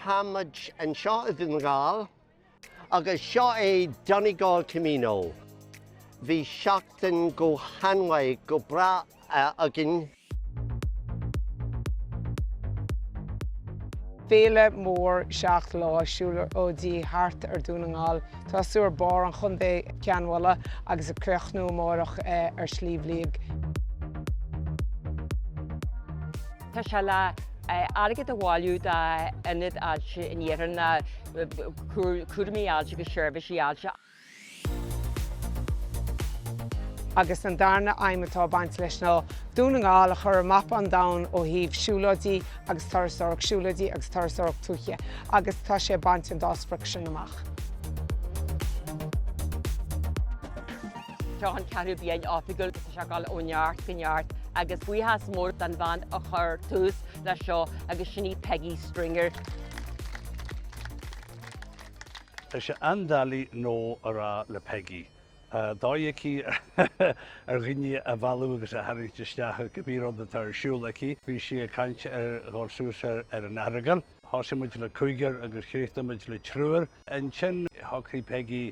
Táimid anseo i Dún na Gall agus seo é Donegal Camino. Bhí seachtain go han-mhaith, go breá againn. Féile mhór seacht lá siúlóidí thart ar Dhún na nGall, tosú ar barr an chontae, Cionn Mhálanna, agus ag críochnú amárach ar Shliabh Liag. Tá sé le airgead a bhailiú d'ionaid ailse in iarthar na, cúraimí ailse agus seirbhísí ailse. agus an darna haidhm atá ag baint leis ná Dún na nGall a chur ar mapa an domhain ó thaobh siúlóidí agus turasóireacht siúlóidí agus turasóireacht tuaithe agus tá sé ag baint an dá sprioc sin amach. Tá an ceathrú bliain oifigiúil seo ag gabháil ó neart go neart agus buíochas mór don bhean a chuir tús leis seo agus sin í Peggy Stringer. Tá sé an-doiligh no a rá le Peigí, tá dóigh aici ar dhaoine a mhealladh agus a tharraingt isteach i gcibé rud atá ar siúl aici. Bhí sí ag caint ar dhul suas ar an Earagail. Thosaigh muid le cúigear agus chríochnaigh muid le triúr. Ansin shocraigh Peigí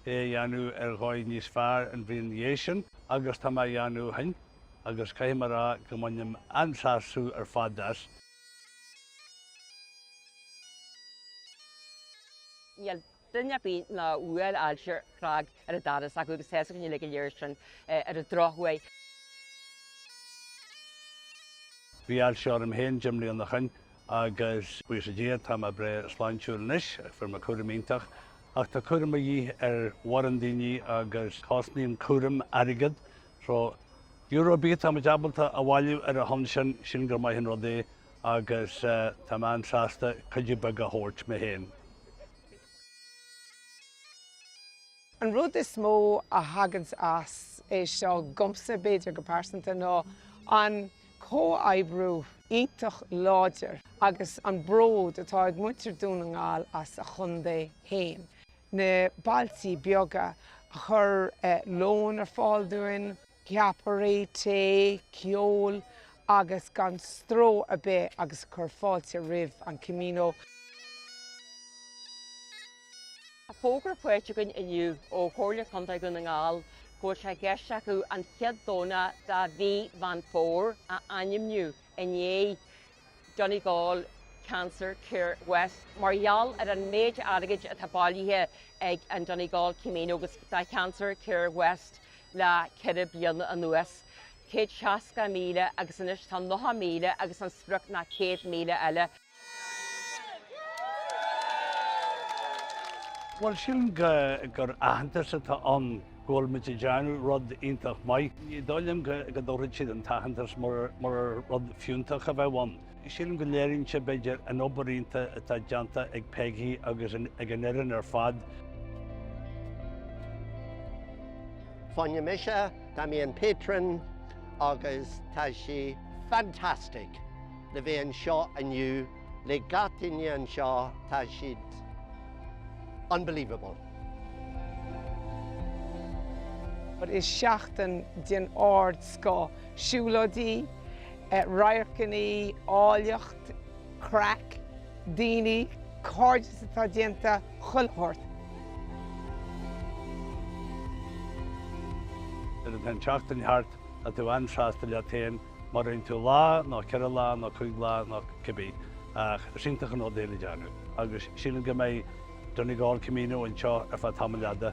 é a dhéanamh ar dhóigh níos fearr an bhliain ina dhiaidh sin agus tá mé á dhéanamh ó shin agus caithfidh mé a rá go mbainim an-sásamh ar fad as. Níl duine ar bith nach bhfuil ailse ag cnag ar an doras acu agus tá's againn uilig go léir sin ar an drochuair. Bhí ailse orm féin deich mbliana ó shin agus, buíochas Dé, tá mé breá sláintiúil anois, fuair mé cúram iontach. Ach tá cúram a dhíth ar mhórán daoine agus cosnaíonn cúram airgead So, euro ar bith atáimid ábalta a bhailiú ar a shon sin, sin gur maith an rud é agus tá mé an-sásta cuidiú beag a thabhairt mé féin. An rud is mó a thaganns as é seo dhomsa, b'fhéidir, go pearsanta ná an comhoibriú iontach láidir agus an bród atá ag muintir Dhún na nGall as a chontae féin. na bailtí beaga a chuir lón ar fáil dúinn, ceapairí, tae, ceol agus gan stró ar bith agus a chuir fáilte roimh an Camino. Tá fógra faighte againn inniu ó Chomhairle Contae Dhún na nGall go bhfuil sé i gceist acu an chéad Domhnach de mhí Mheán Fómhair a ainmniú i ndiaidh Donegal Cancer Care West mar gheall ar an méid airgid atá bailithe ag an Donegal Camino agus the Cancer Care West le ceithre bliana anuas, céad seasca míle agus anois tá nocha míle agus an sprioc ná céad míle eile. Bhuel, sílim gur aitheantas atá ann. go bhfuil muid ag déanamh rud iontach maith. Ní dóigh liom go dtabharfadh siad an t-aitheantas mura rud fiúntach a bheadh ann. Sílim go léiríonn sé, b'fhéidir, an obair iontach atá déanta ag Peigí agus ag an fhoireann ar fad. Fúm mise, tá mé i mo patron agus tá sé fantastic le bheith anseo inniu. Le gach duine anseo, tá siad unbelievable. But is seachtain den ardscoth, siúlóidí, radharcanna, áilleacht, craic, daoine, cairdeas atá déanta chuile shórt. Nuair atá an tseachtain thart, tá tú an-sásta leat féin. Má rinne tú lá, nó ceithre lá, nó cúig lá, nó cibé, is iontach an rud é le déanamh, agus sílim go mbeidh Donegal Camino anseo ar feadh tamaill fhada.